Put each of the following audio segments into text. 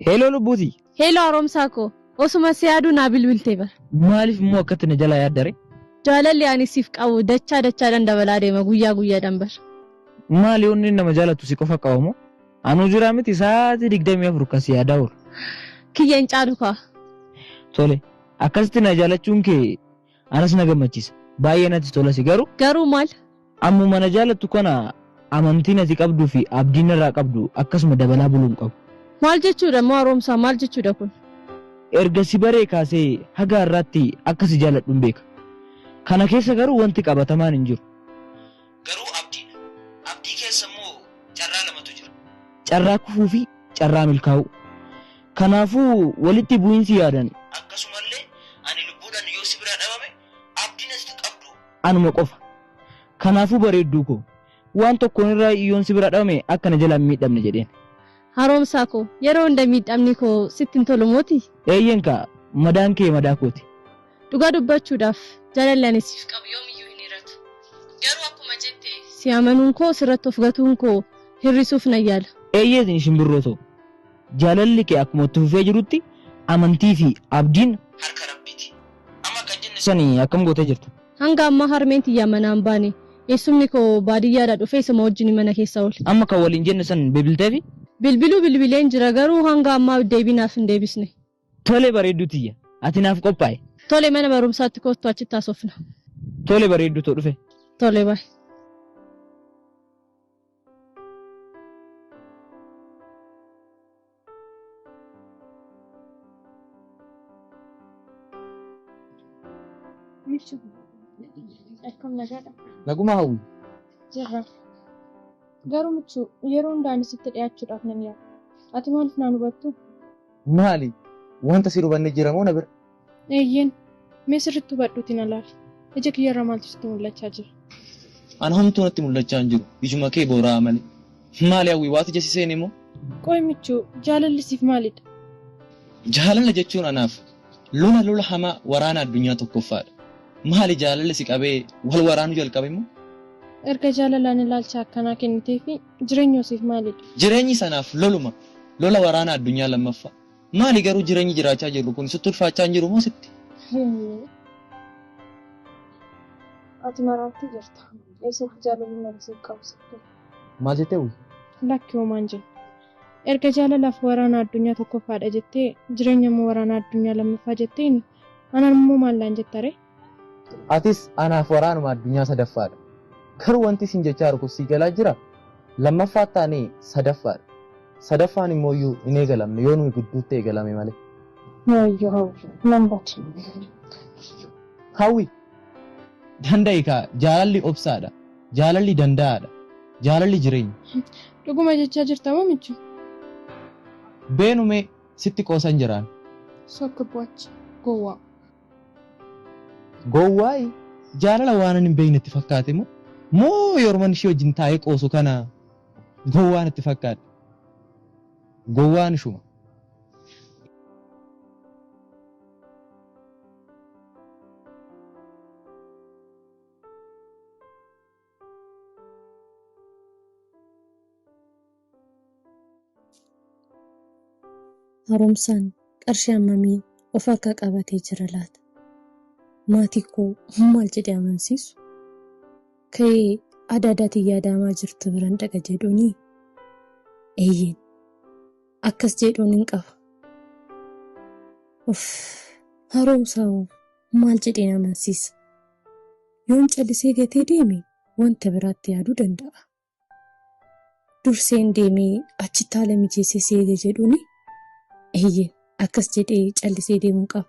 Heloo lubbuuti. Heloo haaromsaa koo. Osuma si yaaduu naa bilbiltee bara. Maaliif immoo akkatti na jalaa yaaddare? Jaalalli ani siif qabu dachaa dachaadhaan dabalaa deema guyyaa guyyaadhaan bara. Maali yoonni nama jaalatu si qofa qaba moo? Anuu jiraa miti sa'aatii digdamii afur kan si yaadaa oolu. Kiyya hin caalu kaa. Tole akkasitti na jaalachuun kee Anas na gammachisa. Baay'ee natti tolasi garu. Garuu maal? Ammuma na jaalattu kana amantiin ati qabdu fi abdiin narraa qabdu akkasuma dabalaa buluu hin qabu. Maal jechuudha immoo Haroomsaa maal jechuudha kun? Erga si baree kaasee haga har'aatti akka si jaaladhun beeka. Kana keessa garuu wanti qabatamaan hin jiru. Garuu abdiidha. Abdii keessa immoo carraa lamatu jira. Carraa kufuu fi carraa milkaa'uu. Kanaafuu walitti bu'iinsi yaadan. Akkasumallee ani lubbuudhaan yoo si biraa dhabame abdiin ati qabdu. anuma qofa. Kanaafuu bareedduu koo. Waan tokkoon irraa yoon si biraa dhabame akka na jalaa hin miidhamne jedheen. Haaromsaa koo, yeroo hunda miidhamni koo sitti hin tolu mootii? Eeyyeen kaa, madaan kee madaa kooti. Dhugaa dubbachuudhaaf jaalalli ani siif qabu yoomiyyuu hin hir'atu. Garuu akkuma jette si amanuun koo sirratti of gatuun koo hir'isuuf nan yaala. Eeyyee shimbirroo too, jaalalli kee akkuma itti fufee jirutti amantii fi abdiin harka Rabbiiti. Amma kan jenne san akkam gootee jirta? Hanga ammaa harmeen tiyya manaa hin baane. Eessumni koo baadiyyaadhaa dhufee isuma wajjin mana keessa oole. Amma kan waliin jenne san bilbilteefii? Bilbiluu bilbileen jira garuu hanga ammaa deebii naaf hin deebisne. Tole bareedduu tiyya, ati naaf qophaa'i. Tole mana barumsaatti koottu achitti haasofna. Tole bareedduu too dhufe. Tole bye. Akkam nagaadha. Naguma hawwi. Jirra. Garuu michuu yeroo hundaan sitti dhiyaachuudhaaf nan yaala. Ati maaliif naan hubattu? Maali? Wanta si hubanne jira moo na bira? Eeyyeen. Mee sirriitti hubadhuuti na laali. Ija kiyyarra maaltu sitti mul'achaa jira? Ana homtuu natti mul'achaa hin jiru. Ijuma kee boora'aa malee. Maali hawwii waati ija si seene moo? Qoy michuu, jaalalli siif maalidha? Jaalala jechuun anaaf lola lola hamaa waraana addunyaa tokkoffaadha. Maali jaalalli si qabee wal waraanuu jalqabe moo? Erga jaalalaan ilaalcha akkanaa kenniteefii Jireenyoo siif maalidha? Jireenyi sanaaf loluma. Lola waraana addunyaa lammaffaa. Maali garuu jireenyi jiraachaa jirru kuni? Sitti ulfaachaa hin jirumoo sitti? Ati maraattii jirta. Eessatti jaalalli nama siif qabu sitti hima. Maal jettee Hawwii? Lakki homaan jenne. Erga jaalalaaf waraana addunyaa tokkoffaadha jettee, jireenyammoo waraana addunyaa lammaffaa jetteeni, anammoo maal naan jettaree? Atis anaaf waraanuma addunyaa sadaffaadha. Garuu wanti siin jechaa jiru kun sii galaa jiraa? Lammaffaas taane sadaffaadha. Sadaffaan immooyyuu hin eegalamne yoo nuyi gidduutti eegalame malee. Wayyoo Hawwi nan bade. Hawwi! Danda'i kaa! Jaalalli obsaadha. Jaalalli danda'aadha. Jaalalli jireenya. Dhuguma jechaa jirta moo michuu? Beenu mee sitti qoosan jiraan. Sokka bu'acha gowwaa. Gowwaayi jaalala waanan hin beekne itti fakkaate moo? Moo yoruman ishii wajjin taa'ee qoosu kana gowwaan itti fakkaadhe? Gowwaan ishuma. Haaromsaan qarshii hammamii of harkaa qabatee jira laata? Maatii koo maal jedhee amansiisu? Ka'ee adaadaa tiyya adaamaa jirtu biran dhaqa jedhuunii? Eeyyeen akkas jedhuun hin qaba. Of haaromsaa hoo maal jedheen amansiisa? Yoon callisee gatee deeme wanta biraatti yaaduu danda'a. Durseen deemee achitti haala mijeessee si eega jedhuuni? Eeyyeen, akkas jedhee callisee deemuun qaba.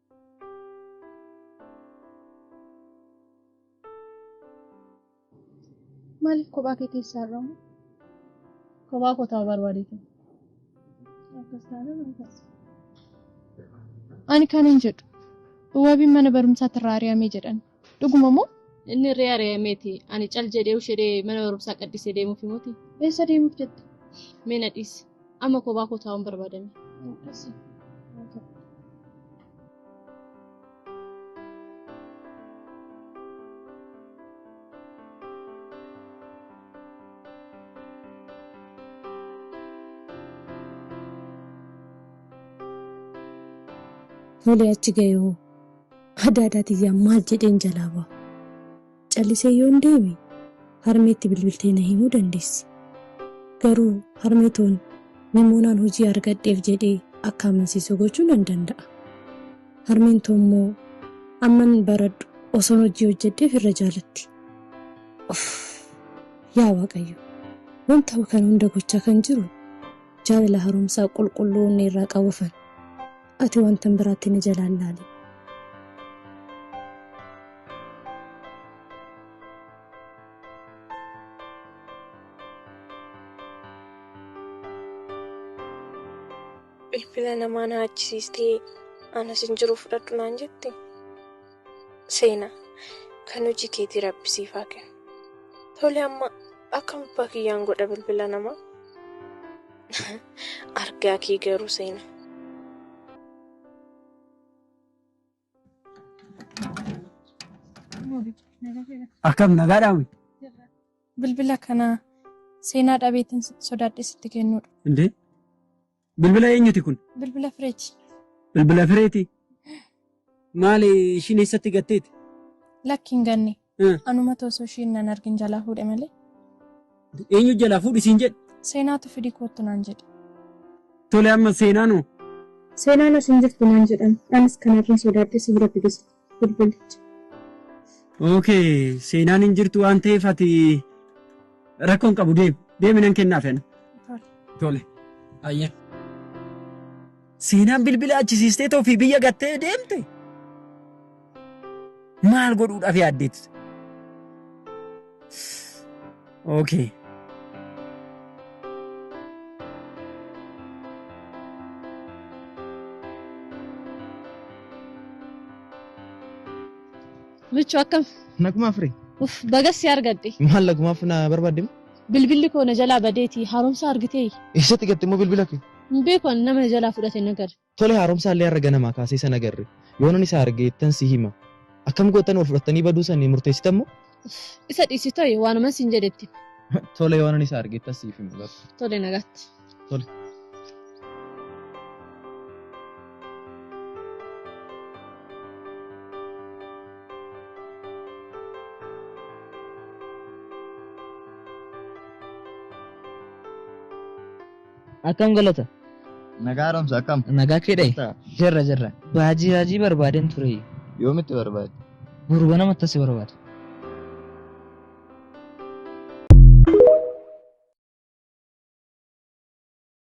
Maaliif kophaa kee keessaa argamu? Kophaa koo ta'uu barbaadeetu. Akkas taanaan akkas. Ani kan hin jedhu. Wabiin mana barumsaatti irraa ari'amee jedhan. Dhuguma moo? Inni irree ari'ameeti. Ani cal jedhee ushedhee mana barumsaa qaddisee deemuuf himuuti. Eessa deemuuf jette? Mee na dhiisi. Amma kophaa koo taa'uun barbaadame. Tole achi ga'e hoo? Adaadaa tiyyaa maal jedheen jalaa ba'a? Callisee yoon deeme harmeetti bilbiltee na himuu dandeessi. Garuu harmee toon Nimoonaan hojii argadheef jedhee akka amansiisu gochuu nan danda'a. Harmeen too immoo amman baradhu osoon hojii hojjedheef irra jaalatti. Uff! Yaa Waaqayyo! Waan ta'u kana hunda gochaa kan jiru jaalala haaromsaa qulqulluu onnee irraa qabufan. Ati wantan biraatti na jalaan laali. Bilbila namaa na achisiistee anas hin jiru fudhadhu naan jette. Seena kan hojii keetii rabbi siif haa kennu. Tole amma akkam abbaa kiyyaan godha bilbila namaa? Argaa kee garuu seena. Akkam nagaadhaa wi? Bilbila kana seenaa dhabeetiin sitti sodaadhee sitti kennuudha. Indee? Bilbila eenyuti kun? Bilbila fireeti. Bilbila fireeti? Maali ishiin eessatti gatteeti? Lakki hin ganne. Eh. Anumatu osoo ishiin nan argin jalaa fuudhe malee. Eenyu jalaa fuudhi siin jedhe? Seenaatu fidii koottu naan jedhe. Tole amma seenaan hoo? Seenaan as hin jirtu naan jedhan. Anis kanarran sodaadhe si bira fidus bilbilicha. Okay, seenaan hin jirtu waan ta'eef ati rakkoon qabu deemi. Deemi nan kennaaf ani. Tole. Tole. Ayya. Seenaan bilbila achisiistee tofii biyya gattee deemte maal godhuudhaaf yaaddeetti? Okay. Michuu akkam? Nagumaa fure. Uf, bagas si argadhe. Maal nagumaaf na barbaadde? Bilbilli koo na jalaa badeeti. Haaromsa argitee? Eessatti gatte immoo bilbila kee? Hin beeku ani nama na jalaa fudhate nagar. Tole haaromsaa illee har'a ganamaa kaasee isa nagarre. Yoonan isa arge ittan si hima. Akkam goottan wal fudhattanii baduu san ni murteessitan moo? Isa dhiisi toye waanuman siin jedhe itti himi. Tole yoonan isa arge ittan siif hima bar. Tole nagaatti. Tole. Akkam galata? Nagaa haaromsa akkam? Nagaa kee dhayi? Jirtaa? Jirra jirra. Baajii baajii barbaadeen ture. Yoomitti barbaade? Gurba nama tasi barbaada.